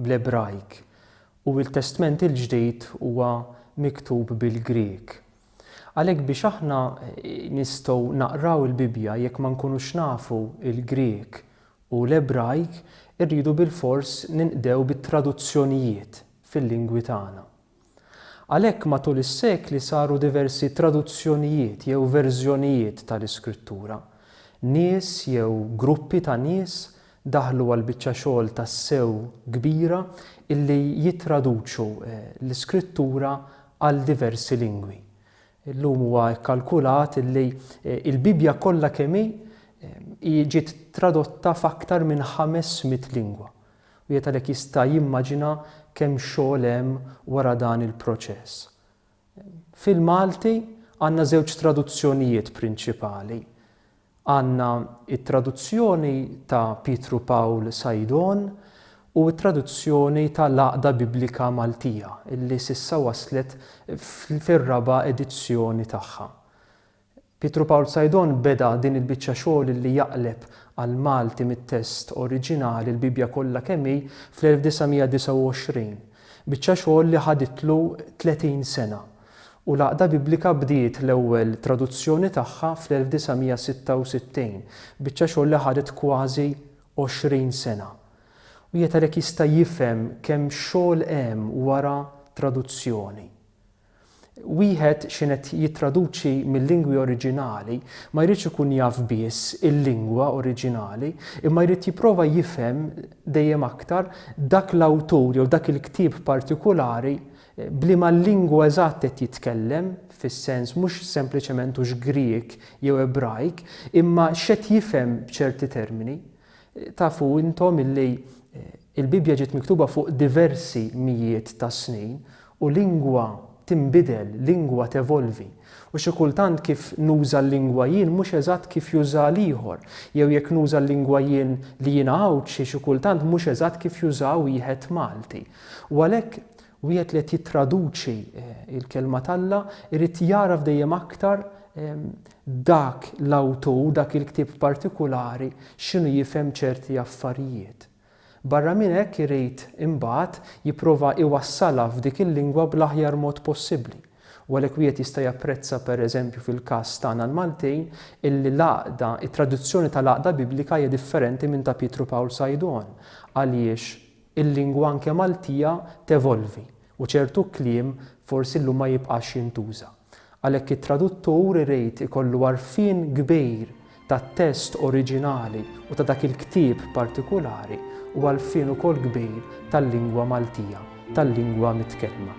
bl-Ebrajk u l-Testment il-Ġdid huwa miktub bil-Grieg. Għalhekk biex aħna nistgħu naqraw il-Bibbja jekk ma nkunux nafu l-Grieg u l-Ebrajk irridu bilfors ninqdew bit-traduzzjonijiet fil-lingwi tagħna. Għalhekk matul is-sekli saru diversi traduzzjonijiet jew verżjonijiet tal-Iskrittura. Nies jew gruppi ta' nies daħlu għal biċċa xogħol tassew kbira illi jittraduċu l-Iskrittura għal diversi lingwi. Illum huwa kkalkulat illi l-Bibbja kollha kemm hi ġiet tradotta f'aktar minn ħames mitt lingwa. Wieħed għalhekk jista' jimmaġina kemm xogħol hemm wara dan il-proċess. Fil-Malti għandna żewġ traduzzjonijiet prinċipali. Għandna t-traduzzjoni ta' Pietru Pawl Saidon u t-traduzzjoni ta' l-Għaqda Biblika Maltija li s'issa waslet fir-raba' edizzjoni tagħha. Pietru Pawl Saidon beda din il-biċċa xogħol li jaqleb għall-Malti mit-test oriġinali l-Bibbja kollha kemm hi fl-1929, biċċa xogħol li ħaditlu tletin sena, u l-Għaqda Biblika bdiet l-ewwel traduzzjoni tagħha fl-1966, biċċa xogħol li ħadet kważi għoxrin sena. Wieħed għalhekk jista' jifhem kemm xogħol hemm wara traduzzjoni. Wieħed x'in qed jittraduċi mil-lingwi oriġinali ma jridx ikun jaf biss il-lingwa oriġinali, imma jrid jipprova jifhem dejjem aktar dak l-awtur jew dak il-ktieb partikulari b'liema lingwa eżatt qed jitkellem, fis-sens mhux sempliċement hux Grieg jew Ebrajk, imma x'qed jifhem b'ċerti termini. Tafu intom illi il-Bibbja ġiet miktuba fuq diversi mijiet ta' snin u lingwa tinbidel, lingwa tevolvi. U xi kultant kif nuża l-lingwa jien mhux eżatt kif jużaha l-ieħor, jew jekk nuża l-lingwa jien li jiena Għawdxi xi kultant mhux eżatt kif jużaha wieħed Malti. U għalhekk Wieħed li qed jittraduċi l-Kelma t'Alla jrid jagħraf dejjem aktar dak l-awtur, dak il-ktieb partikulari x'inhu jifhem ċerti affarijiet. Barra minn hekk irid imbagħad jipprova jwassalha f'dik il-lingwa bl-aħjar mod possibbli. U għalhekk wieħed jista' japprezza pereżempju fil-każ tagħna l-Maltin illi l-Għaqda, it-traduzzjoni tal-Għaqda Biblika hija differenti minn ta' Pietru Pawl Sajdon. Għaliex? Il-lingwa anke Maltija tevolvi u ċertu kliem forsi llum ma jibqax jintuża. Għalhekk it-traduttur irid ikollu għarfien kbir tat-test oriġinali u ta' dak il-ktieb partikulari u għalfien ukoll kbir tal-lingwa Maltija, tal-lingwa mitkellma.